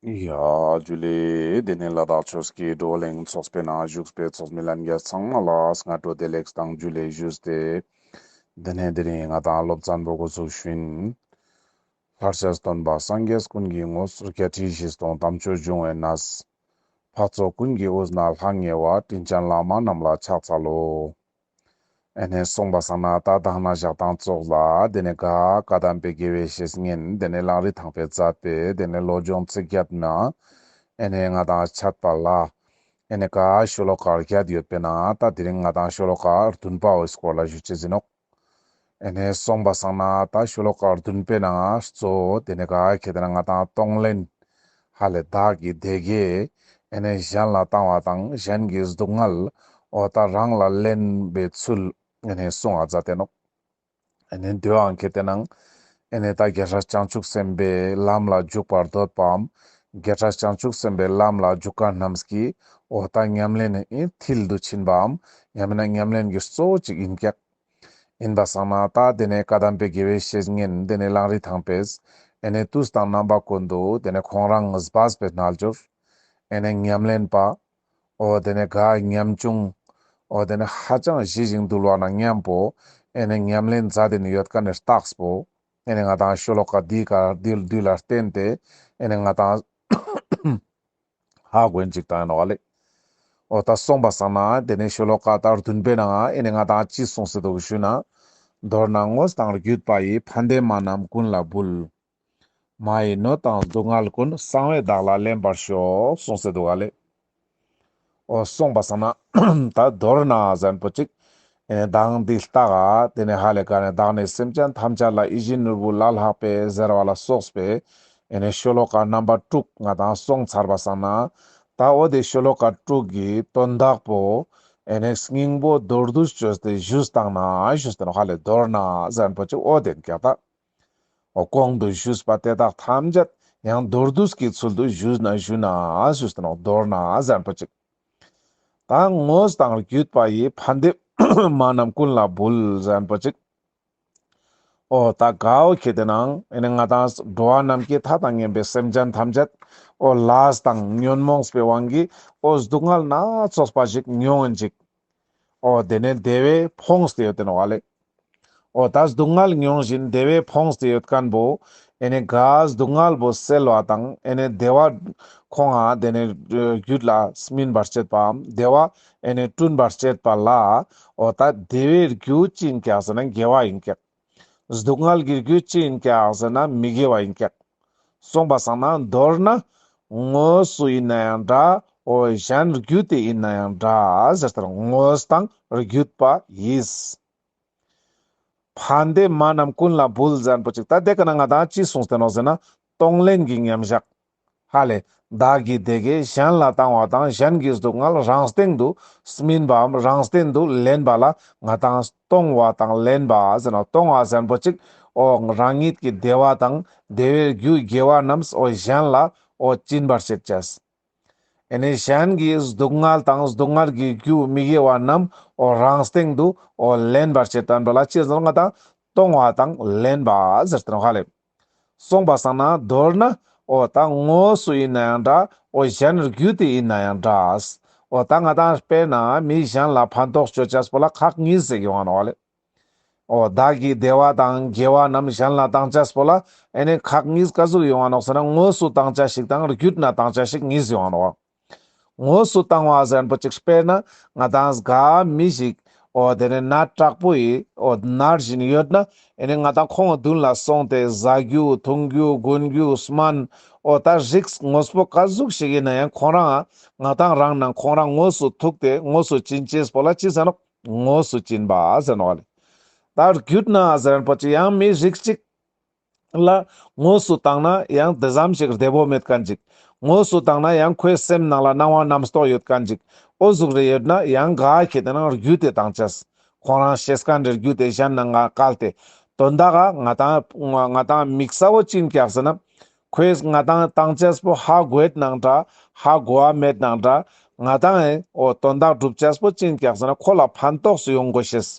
རྒྱུད་ལས། དེ་ནས་ལ་དྭགས་ཆོས་ཀྱི་བགྲོ་གླེང་ཚོགས་པའི་ནང་བཞུགས་པའི་ཚོགས་མི་ལ་མཇལ་ཚང་མ་ལ་སྔ་དྲོ་བདེ་ལེགས་དང་རྒྱུད་ལས་ཞུས་ཏེ། དེ་ནས་དེ་རིང་ང་དང་སློབ་ཚན་པོ་འགོ་ཚུགས་ཤིང། ལྷར་བྱས་སྟོན་པ་སངས་རྒྱས་ཀུན་གྱི་ངོ་སོ་བརྒྱད་ཁྲི་བཞི་སྟོང་དམ་ཆོས་འབྱུང་བའི་ན་བཟའ། འཕགས་ཚོགས་ཀུན་གྱི་དབུས་ན་ལྷ་ངེས་བ་སྤྲིན་ཆེན་ལྷག་མ་རྣམས་ལ་ཕྱག་འཚལ་ལོ། ཨེ་ནས་གསུངས་པ་སང་ན་རྟ་བཏང་ན་བཞག་བཏང་བཙོག་ལ་དེ་ནས་ག་ཀ་དམ་པའི་དགེ་བའི་བཤེས་གཉེན་དེ་ནས་གླང་རི་ཐང་པའི་རྩ་དཔེ་དེ་ནས་བློ་སྦྱོང་ཚིག་བརྒྱ་བསྣུན། ཨེ་ནས་ང་དང་ཆད་པ་ལ། ཨེ་ནས་ག་ཤོ་ལོ་ཀ་བརྒྱད་ཡོད་པས་ན་ད་དེ་རིང་ང་དང་ཤོ་ལོ་ཀ་བདུན་པ་འོད་སྐོར་ལ་བཞུད་ཅེས་ཟིན་ནོ། ཨེ་ནས་སོང་པ་སང་ན་ད་ཤོ་ལོ་ཀར་བདུན་པའི་ནང་གཙོ་བོ་དེ་ནས་ག་གེ་དེ་ན་ང་དང་གཏོང་ལེན། ཧ་ལས་བདག་གི་སྡེ་དགེ་ཨེ་ནས་གཞན་ལ་བཏང་བ་དང་གཞན་གི་སྡུག་བསྔལ་འོ་ད་རང་ལ་ལེན་པའི་ཚུལ་ཨེ་ནས་སོང་ཨ་ཛ་དེ་ནོ། ཨེ་ནས་འདོད་ཨང་གེ་དེ་ན་ཨེ་ནས་ད་བརྒྱ་ཕྲག་བྱང་ཆུབ་སེམས་དཔའི་ལམ་ལ་འཇུག་པར་འདོད་པའམ་བརྒྱ་ཕྲག་བྱང་ཆུབ་སེམས་དཔའི་ལམ་ལ་འཇུག་ག་རྣམས་ཀྱི་འོ་ད་ཉམས་ལེན་ཨེ་མཐིལ་དུ་ཕྱིན་པའམ་ཡང་མིན་ན་ཉམས་ལེན་གྱི་གཙོ་བོ་གཅིག་ཡིན་ཀྱང། ཨིན་པ་སང་ན་ད་དེ་ནས་བཀའ་གདམས་པའི་དགེ་བའི་བཤེས་གཉེན་དེ་ནས་གླང་རི་ཐང་པས་ཨེ་ནས་ཏུས་དང་རྣམ་པ་ཀུན་ཏུ་དེ་ནས་ཁོང་རང་ངུས་པཱས་པའི་རྣལ་འབྱོར་ཨེ་ནས་ཉམས་ལེན་པ་ཨོ་དེ་ནས་ག་ཉམས་ཆུང་ཨོ་དེ་ནས་ཧ་ཅང་བཞི་ཞིང་འདུལ་བ་ན་མཉམ་པོ་ཨེ་ནས་ཉམས་ལེན་རྫ་དེ་ནས་ཡོད་ཀ་ནས་རྟགས་པོ་ཨེ་ནས་ང་དང་ཤོ་ལོ་ཀ་དུས་ཀ་དུས་ལ་བརྟེན་ཏེ་ཨེ་ནས་ང་དང། ཧ་དགོས་འཇིག་དང་ཡང་ན་བ་ལེ། ཨོ་ད་སོང་པ་ཟང་ན་དེ་ནས་ཤོ་ལོ་ཀ་དང་བདུན་པའི་ནང་ཨེ་ནས་ང་དང་ཅི་གསུང་སྲིད་དོ་གུ་ཤུ་ན། མདོར་ན་དངོས་དང་བརྒྱུད་པ་ཡིས་ཕ་འདས་མ་རྣམས་ཀུན་ལ་འབུལ། མ་ཡི་སྣོད་དང་སྡུག་བསྔལ་ཀུན་གསང་བའི་བདག་ལ་ལེན་པར་ཤོག་གསུང་སྲིད་དོ་ག་ལེ། ཨོ་སོང་པ་ཟང་ན། ད་མདོར་ན་གཟན་པོ་གཅིག་གདངས་འདི་ལྟ་ག། དེ་ནས་ཧ་ལས་ཀ་ནས་བདག་ནི་སེམས་ཅན་ཐམས་ཅད་ལ་ཡིད་བཞིན་ནོར་བུ་ལ་ལྷག་པའི་གཟེར་བ་ལ་སོགས་པས་ཤོ་ལོ་ཀ་རྣམ་པ་དྲུག་ང་དང་སོང་ཚར་བ་བསམ་ན། ད་འོ་དེ་ཤོ་ལོ་ཀ་དྲུག་གི་དོན་བདག་པོ། སྙིང་པོ་མདོར་བསྡུ་བཅོས་ཏེ་བཞུགས་སྟངས་ན་བཞུགས་སྟེ་ནོ་ཧ་ལས་མདོར་ན་གཟེར་འཕོ་ཅིག་འོ་དེ་འགས་བདག། འོ་གོང་དུ་བཞུགས་པ་དེ་དག་ཐམས་ཅད་ཡང་མདོར་བསྡུས་ཀྱི་ཚུལ་དུ་བཞུགས་ན་བཞུགས་ན་བཞུགས་སྟེ་ནོ་མདོར་ན་གཟེར་འཕོ་ཅིག། དང་དངོས་དང་བརྒྱུད་པ་ཡི་ཕ་འདེབས། མ་རྣམས་ཀུན་ལ་འབུལ་གཞན་པོ་གཅིག། ཨོ་ད་གའོ་ཁྱེད་དེ་ནང་ཨེ་ནི་ང་དང་འགྲོ་བ་རྣམས་ཀྱི་མཐའ་དང་ངན་པའི་སེམས་ཅན་ཐམས་ཅད་ཨོ་ལཱས་དང་ཉོན་མོངས་པའི་དབང་གིས་ཨོ་སྡུག་བསྔལ་སྣ་ཚོགས་པ་ཞིག་མྱོང་ཨེ་འཇིག། ཨོ་དེ་ནས་བདེ་བས་ཕོངས་ཏེ་ཡོད་དེ་ནོ་བ་ལས། ཨོ་ད་སྡུག་བསྔལ་མྱོང་བཞིན་བདེ་བས་ཕོངས་ཏེ་ཡོད་སྐམ་པོ། ཨེ་ནས་གཱ་སྡུག་བསྔལ་བུ་སེལ་བ་དང་ཨེ་ནས་བདེ་བ། ཁོང་ཨ་དེ་ནས་རྒྱུད་ལ་སྨིན་པར་བྱེད་པའམ་བདེ་བ་ཨེ་ནས་བསྐྲུན་པར་བྱེད་པ་ལ། ཨོ་ད་བདེ་བའི་རྒྱུ་ཅིང་སྐྱ་ས་ན་དགེ་བ་ཡིན་སྐད། སྡུག་བསྔལ་གྱི་རྒྱུ་ཅི་ཡིན་ཀྱང་ཟེར་ན་མི་དགེ་བ་ཡིན་ཀྱང། གསུངས་པ་བཟང་ན་མདོར་ན། དངོས་སུ་ཡིན་ན་ཡང་འདྲ་འོ་གཞན་རྒྱུད་དེ་ཡིན་ན་ཡང་འདྲ་ཟེར་ལྟར་དངོས་དང་རྒྱུད་པ་ཡིས། ཕན་བདེ་མ་རྣམས་ཀུན་ལ་བུལ་ཟན་པོ་གཅིག་ད་དེ་ག་ན་ང་དང་ཅི་གསུངས་བསྟན་ནོ་ཟེར་ན་གཏོང་ལེན་གྱི་མཉམ་བཞག་ཧ་ལས། བདག་གིས་དེ་གས་གཞན་ལ་བཏང་བ་དང་གཞན་གྱིས་སྡུག་བསྔལ་རང་སྟེང་དུ་སྨིན་པའམ་རང་སྟེང་དུ་ལེན་པ་ལ་ང་དང་གཏོང་བ་དང་ལེན་པ་གཏོང་བ་ཟན་པོ་གཅིག་ཨོ་རང་ཉིད་ཀྱི་བདེ་བ་དང་བདེ་བའི་རྒྱུའི་དགེ་བ་རྣམས་ཨོ་གཞན་ལ་ཨོ་སྐྱིན་པར་བྱེད་ཅེས་ཨེ་ནས་གཞན་གྱིས་སྡུག་བསྔལ་དང་སྡུག་བསྔལ་གྱི་རྒྱུ་མི་དགེ་བ་རྣམས་ཨོ་རང་སྟེང་དུ་ཨོ་ལེན་པར་བྱེད་དོན་དུ་ལ་ཅི་ཟེར་ན་ང་དང་གཏོང་བ་དང་ལེན་པ་ཧ་ལས། གསུངས་པ་བསམ་ན་མདོར་ན། ཨོ་ད་ངོ་སུ་ཡིན་ན་ཡང་འདྲ་ཨོ་གཞན་ནོར་བརྒྱུད་དེ་ཡིན་ན་ཡང་འདྲ། ཨོ་ད་ང་དང་དཔེར་ན་མི་གཞན་ལ་ཕན་ཐོགས་སྤྱོད་བྱས་པོ་ལ་ཁག་གཉིས་ཟེར་གི་ཡོང་ན་ཨོ་ལེ། ཨོ་ད་གིས་བདེ་བ་དང་དགེ་བ་རྣམས་གཞན་ལ་བཏང་བྱས་པོ་ལ་ཨེ་ནས་ཁག་གཉིས་ཀ་གཟུགས་ཡོང་བ་ནོག་ཟེར་ན་ངོ་སུ་བཏང་བྱ་ཞིག་དང་བརྒྱུད་ན་བཏང་བྱ་ཞིག་གཉིས་ཡོང་ཨོ། དངོས་སུ་བཏང་བ་གཟན་པོ་ཅིག་སྤེལ་ན་ང་དང་སྒ་མི་ཞིག་འོ་དེ་ནི་ན་དྲག་པོ་ཡི་འོ་ནར་བཞིན་ཡོད་ན་ཨེ་ནི་ང་དང་ཁོང་བདུན་ལ་སོང་སྟེ་བཟའ་རྒྱུ་འཐུང་རྒྱུ་དགོན་རྒྱུ་སྨན་འོ་ད་རིགས་དངོས་པོ་དཀའ་གཟུགས་ཞིག་ཡིན་ན་ཡང་ཁོང་རང་ང་དང་རང་ནང་ཁོང་རང་དངོས་སུ་ཐུག་སྟེ་དངོས་སུ་བྱིན་ཅེས་པོ་ལ་ཅི་ཟེར་ནོ་དངོས་སུ་བྱིན་པ་གཟན་བ་ལས་ད་རྒྱུད་ན་གཟན་པོ་ཅིག་ཡང་མི་རིགས་ཅིག་ལ། དངོས་སུ་བཏང་ན་ཡང་དེ་ཙམ་ཞིག་བདེ་བོ་མེད་ག་འཇིག། དངོས་སུ་བཏང་ན་ཡང་ཁོའི་སེམས་ནང་ལ་སྣང་བ་རྣམ་རྟོག་ཡོད་ག་འཇིག། ཨོ་གཟུགས་རེ་ཡོད་ན་ཡང་ག་ཁྱེད་རང་རྒྱུད་དེ་དང་ཅེས། ཁོང་རང་ཞེ་ས་ག་འདྲེར་རྒྱུད་དེ་གཞན་ནང་ང་བཀལ་ཏེ། དོན་དག་ག་ང་དང། ང་དང་མིག་ས་བོ་གཅིན་བཀྱག་ཟེར་ན། ཁོས་ང་དང་བཏང་ཅེས་པོ་ཧ་གོ་ཨེ་ནང་འདྲ། ཧ་གོ་བ་མེད་ནང་འདྲ། ང་དང་ཨེ། ཨོ་དོན་དག་སྒྲུབ་ཅེས་པོ་གཅིན་བཀྱག་ཟེར་ན་ཁོ་ལ་ཕན་ཐོགས་སུ་ཡོང་དགོས་ཞེས།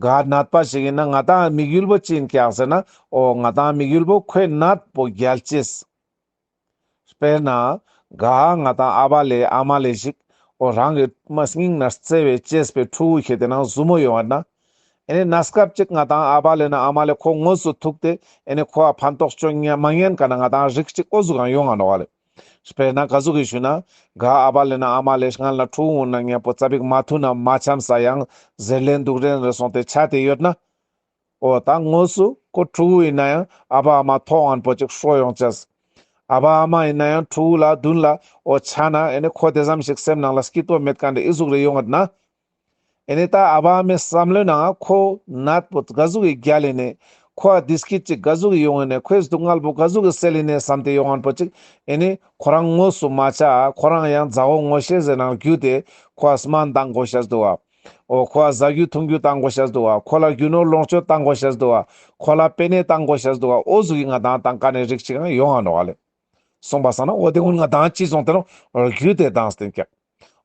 དགའ་སྣད་པ་ཞིག་ཡིན་ན་ང་དང་དམིགས་ཡུལ་པོ་གཅིག་ཡིན་སྐྱག་ཟེར་ན་ཨོ་ང་དང་དམིགས་ཡུལ་པོ་ཁོས་སྣད་པོ་རྒྱལ་གཅེས། དཔེར་ན། དགའ་ང་དང་ཨ་བ་ལས་ཨ་མ་ལས་ཞིག་ཨོ་རང་གི་མ་སྙིང་ན་རྩེ་བའི་གཅེས་པའི་ཕྲུ་གུ་ཞིག་དེ་ན་བཟུ་མོ་ཡོང་བ་ན། ཨེ་ནས་ན་སྐབས་ཅིག་ང་དང་ཨ་བ་ལས་ན་ཨ་མ་ལས་ཁོ་ངོ་སུ་ཐུག་སྟེ་ཨེ་ནས་ཁོ་བ་ཕན་ཐོགས་ཅོ་མ་ཉན་ག་ན་ང་དང་རིགས་གཅིག་ཨོ་བཟུ་གང་ཡོང་ང་ནོ་བ་ལས། དཔེར་ན་བཀའ་ཟུར་གྱིས་ཞུས་ན། ག་ཨ་བ་ལེ་ན་ཨ་མ་ལེས་སྔར་ན་ཕྲུག་སྔོན་ན་མཁན་པོ་རྩ་བིག་མ་ཐུག་ན་མ་འཆམ་ས་ཡང་ཟེར་ལན་འདུག་རན་རེད་སོང་སྟེ་ཆ་དེ་ཡོད་ན། ཨོ་ད་དངོས་སུ་ཁོ་ཕྲུ་གུ་ཡིན་ན་ཡང་ཨ་བ་ཨ་མ་ཐོག་ཨན་པོ་ཅིག་ཧྲོག་ཡོང་ཅེས། ཨ་བ་ཨ་མ་ཡིན་ན་ཡང་ཕྲུ་གུ་ལ་བདུན་ལ་ཨོ་ཆ་ན་ཨེ་ནི་ཁོ་དེ་ཙམ་ཞིག་སེམས་ནང་ལ་སྐྱིད་སྟོབས་མེད་ག་འདྲ་ཨི་གཟུགས་རེ་ཡོད་ངེས་ན། ཨེ་ནས་ད་ཨ་བ་མའི་བསམ་བློའི་ནང་ཨ་ཁོ་ནད་པོ་དགའ་གཟུགས་ཀྱི་རྒྱ་ལས་ནས་ཁོ་ཨ་དིས་སྐད་ཅིག་དགའ་གཟུགས་ཀྱི་ཡོང་ཨེ་ནས་ཁོས་སྡུག་བསྔལ་པོ་དགའ་གཟུགས་ཀྱི་སད་ལེ་ནས་བསམ་སྟེ་ཡོང་ཨན་པོ་ཅིག་ཨེ་ནས་ཁོ་རང་དངོས་སུ་མ་བྱ་ཨ་ཁོ་རང་ཡང་མཛའ་བོ་ངོ་ཤེས་ཟེར་ནང་རྒྱུ་དེ་ཁོ་ཨ་སྨ་འདང་དགོ་ཤ་ཟདུ་ཨ་ཨོ་ཁོ་ཨ་བཟའ་རྒྱུ་འཐུང་རྒྱུ་བཏང་དགོ་ཤ་ཟདུ་ཨ་ཁོ་ལ་རྒྱུ་ནོར་ལོངས་སྤྱོད་བཏང་དགོ་ཤ་ཟདུ་ཨ་ཁོ་ལ་དཔེ་གནས་བཏང་དགོ་ཤ་ཟདུ་ཨ་ཨོ་གཟུགས་ཀྱི་ང་དང་དང་ཀ་ནས་རིགས་གཅིག་ཨང་ཡོང་ཨ་ནོ་ཨ་ལེ། གསུངས་པ་བསམ་ན་ཨོ་དེ་སྔོན་ང་དང་གཅིག་སོང་དེ་རུང་རྒྱུ་དེ་དང་སྟེང་སྐྱགས།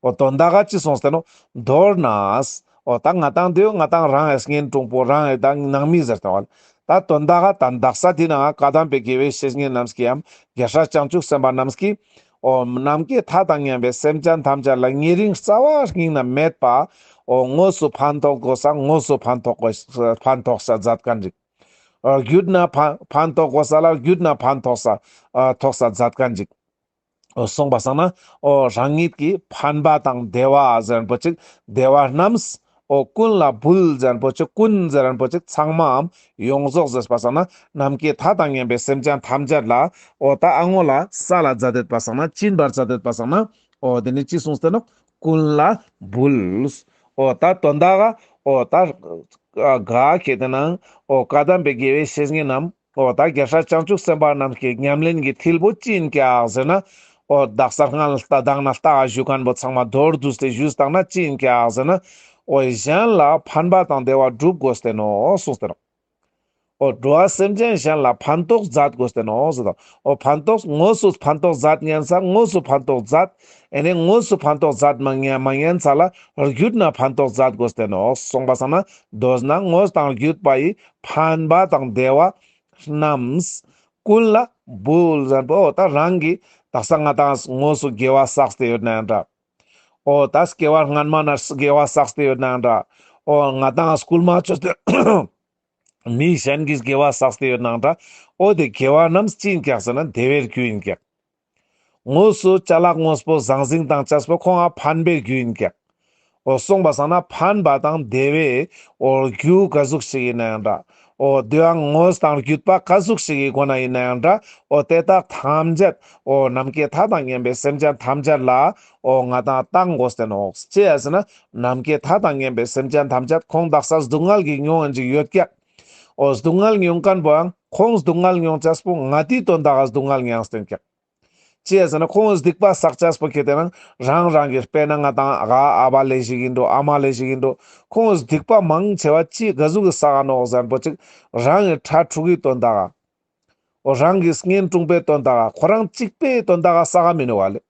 ཨོ་དོ་མདའ་ག་ཅི་སོང་ཟེར་ནོ། མདོར་ན། ཨོ་ད་ང་དང་དེའུ་ང་དང་རང་ཨེས་ངན་ཀྲུང་པོ་རང་ཨེ་ད་ནང་མི་ཟེར་ཏེ། ད་དོ་མདའ་ག་ད་མདག་ས་དེ་ན་བཀའ་གདམས་པའི་དགེ་བའི་བཤེས་གཉེན་རྣམས་ཀྱིའམ་རྒྱལ་ཧྲ་བྱང་ཆུབ་སེམས་དཔའ་རྣམས་ཀྱིས། ཨོ། ནམ་མཁའི་མཐའ་དང་མཉམ་པའི་སེམས་ཅན་ཐམས་ཅད་ལ་ཉེ་རིང་རྩ་བ་སྙིང་ན་མེད་པ། ཨོ་དངོས་སུ་ཕན་ཐོགས་དགོས་ས་དངོས་སུ་ཕན་ཐོགས་དགོས་ས་ཕན་ཐོགས་ས་ཛད་ག་འཇིག། ཨོ་རྒྱུད་ན་ཕན་ཕན་ཐོགས་དགོས་ས་ལ་རྒྱུད་ན་ཕན་ཐོགས་ས་ཐོགས་ས་ཛད་ག་འཇིག། གསུངས་པ་བསམ་ན། རང་ཉིད་ཀྱི་ཕན་པ་དང་བདེ་བ་ཟེར་པོ་ཅིག་བདེ་བ་རྣམས། ཀུན་ལ་འབུལ་ཟེར་པོ་ཅིག་ཀུན་ཟེར་པོ་ཅིག་ཚང་མའམ་ཡོངས་རྫོགས་ཟེར་པ་བསམ་ན། ནམ་མཁའི་མཐའ་དང་མཉམ་པའི་སེམས་ཅན་ཐམས་ཅད་ལ། ད་ཨ་ངོ་ལ་ས་ལ་བཛྲ་འདོད་པ་བསམ་ན་སྤྱིན་པར་བྱ་འདོད་པ་བསམ་ན། དེ་ནས་ཅི་གསུངས་ཟེར་ན། ཀུན་ལ་འབུལ། ད་དོན་དག། ད་ག་གེ་དེ་ན། བཀའ་གདམས་པའི་དགེ་བའི་བཤེས་གཉེན་རྣམས། ཨོ་བདག་རྒྱ་ཧྲལ་བྱང་ཆུབ་སེམས་དཔའ་རྣམས་ཀྱི་ཉམས་ལེན་གྱི་ཐིལ་བུ་བཅིངས་ཀྱང་ཟིན་ན། ཨོ་བདག་གསར་སྔགས་ལ་རཀྟ་བདག་ན་རཀྟ་ཨ་བཞུ་མཁན་པོ་ཚང་མ་རྡོར་བསྡུས་ཏེ་བཞུས་བཏང་ན་བཅིངས་ཀྱང་ཟིན་ན། ཨོ་ཡི་གཞན་ལ་ཕན་པ་དང་བདེ་བ་བསྒྲུབ་དགོས་བསྟན་ནོ་གསུངས་ཟེར་རོ། ཨོ་འགྲོ་བ་སེམས་ཅན་གཞན་ལ་ཕན་ཏོག་མཛད་དགོས་བསྟན་ནོ་ཟེར་དང། ཨོ་ཕན་ཏོག་དངོས་སུ་ཕན་ཏོག་མཛད་བསྙེན་ས་དངོས་སུ་ཕན་ཏོག་མཛད། ཨེ་ནས་དངོས་སུ་ཕན་ཏོག་མཛད་མི་བསྙེན་མ་བསྙེན་ས་ལ་རྒྱུད་ན་ཕན་ཏོག་མཛད་དགོས་བསྟན་ནོ་གསུངས་པ་ས་ན་རྡོ་རྗེ་ན་དངོས་དང་བརྒྱུད་པ་ཡི་ཕན་པ་དང་བདེ་བ་རྣམས་ཀུན་ལ་འབུལ། ཨོ་ད་རང་གི་དག་ས་ང་དང་ངོས་སུ་དགེ་བ་བསགས་ཏེ་ཡོད་ན་འདྲ། ཨོ་ད་སྐྱེ་བ་སྔ་མ་ན་དགེ་བ་བསགས་ཏེ་ཡོད་ན་འདྲ། ཨོ་ང་དང་སྐུལ་མ་ཆོས་དེ་མི་གཞན་གྱིས་དགེ་བ་བསགས་ཏེ་ཡོད་ན་འདྲ། ཨོ་དེ་དགེ་བ་རྣམས་ཅི་ཡིན་ཀྱང་ཟེར་ན་བདེ་བའི་རྒྱུ་ཡིན་ཀྱང། དངོས་སུ་བྱ་གླག་དངོས་པོ་ཟང་ཟིང་དང་བྱ་སྤོས་ཁོ་ང་ཕན་པའི་རྒྱུ་ཡིན་ཀྱང། འོ་གསུངས་པ་བསམ་ན་ཕན་པ་དང་བདེ་བའི་འོ་རྒྱུ་ག་གཟུགས་ཤིག་ཡིན་ན་ཡང་འདྲ་འོ་དུའང་དངོས་དང་བརྒྱུད་པ་ག་གཟུགས་ཤིག་གི་སྒོ་ན་ཡིན་ན་ཡང་འདྲ་འོ་དེ་དག་ཐམས་ཅད་འོ་ནམ་མཁའི་མཐའ་དང་མཉམ་པའི་སེམས་ཅན་ཐམས་ཅད་ལ་འོ་ང་དང་རྟག་མགོ་བསྟན་ནོ། ཅི་ཡ་ཟེར་ན་ནམ་མཁའི་མཐའ་དང་མཉམ་པའི་སེམས་ཅན་ཐམས་ཅད་ཁོང་དག་ས་སྡུག་བསྔལ་གྱིས་མྱོང་ཡང་ཅི་ཡོད་ཀྱང། ཨོ་སྡུག་བསྔལ་མྱོང་མཁན་པོའང་ཁོང་སྡུག་བསྔལ་མྱོང་བྱ་སྤོ་ང་དུས་དོན་དག་སྡུག་བསྔལ་མྱང་སྟོན་ཀྱང། ཅེས་ཟེར་ན་ཁོང་སྡིག་པ་བསག་བྱ་སྤོ་ཁྱེད་རང་རང་རང་གི་དཔེ་ན་ང་དང་ཨ་ཨ་བ་ལས་ཞིག་ཡིན་འགྲོ་ཨ་མ་ལས་ཞིག་ཡིན་འགྲོ་ཁོང་སྡིག་པ་མང་ཆེ་བ་སྤྱིའི་དགའ་གཟུགས་ཀྱི་ས་ག་ནོག་གཟན་པོ་གཅིག་རང་གི་ཁྲ་ཕྲུག་གི་དོན་དག་ཨོ་རང་གིས་བརྔན་བཀྲུངས་པའི་དོན་དག་ཁོ་རང་གཅིག་པའི་དོན་དག་ས་ག་མི་ནུས་བ་ལས།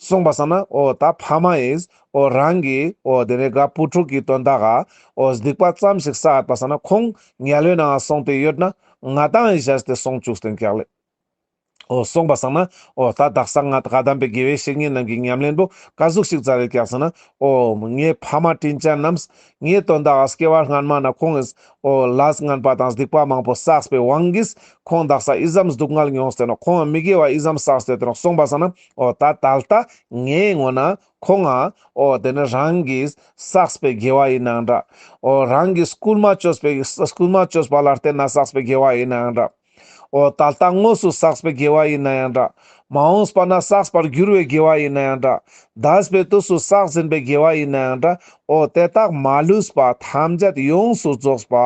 གསུངས་པ་ས་ན་ཨོ་ད་ཕ་མ་ཨིས་ཨོ་རང་གིས་ཨོ་དེ་ནས་དགའ་བུ་ཕྲུག་གི་དོན་དག་ཨོ་སྡིག་པ་ཙམ་ཞིག་བསགས་པ་ས་ན་ཁོང་ཉལ་ལོས་ནའང་སོང་དེ་ཡོད་ན་ང་དང་ཨི་བཞག་སྟེ་སོང་བཅུག་སྟེ་འགེགས་ལེ་ཨོ་གསུངས་པ་ས་ན་ཨོ་ད་བདག་ས་ང་དགའ་དམ་པའི་དགེ་བའི་བཤེས་གཉེན་རྣམས་ཀྱི་ཉམས་ལེན་པོ་ཀ་གཟུགས་ཤིག་ཙ་རེ་བཀྱག་ས་ན་ཨོ་ངའི་ཕ་མ་དྲིན་ཅན་རྣམས་ངའི་དོན་དག་ཨོ་སྐྱེ་བར་སྔར་མ་ན་ཁོང་ཨིས་ཨོ་ལཱས་དངན་པ་དང་སྡིག་པ་མང་པོ་བསགས་པའི་དབང་གིས་ཁོང་བདག་ས་ཨི་བསམས་སྡུག་བསྔལ་མྱོང་སྟེ་ནོ་ཁོང་མི་དགེ་བ་ཨི་བསམས་བསགས་སྟེ་དེ་ནོ་གསུངས་པ་ས་ན་ཨོ་ད་ད་ལྟ་ངའི་ངོ་ན་ཁོ་ང་ཨོ་དེ་ནི་རང་གིས་བསགས་པའི་དགེ་བ་ཡིན་ནའང་འདྲ། ཨོ་རང་གིས་སྐུལ་མ་བཅོས་པའི་སྐུལ་མ་བཅོས་པ་ལ་བརྟེན་ན་བསགས་པའི་དགེ་བ་ཡིན་ནའང་འདྲ། ཨོ་ད་ལྟ་དངོས་སུ་བསགས་པའི་དགེ་བ་ཡིན་ན་ཡང་འདྲ། མ་འོངས་པ་ན་བསགས་པར་འགྱུར་བའི་དགེ་བ་ཡིན་ན་ཡང་འདྲ། བདག་པའི་དུས་སུ་བསགས་ཟིན་པའི་དགེ་བ་ཡིན་ན་ཡང་འདྲ། ཨོ་དེ་དག་མ་ལུས་པ་ཐམས་ཅད་ཡོངས་སུ་རྫོགས་པ་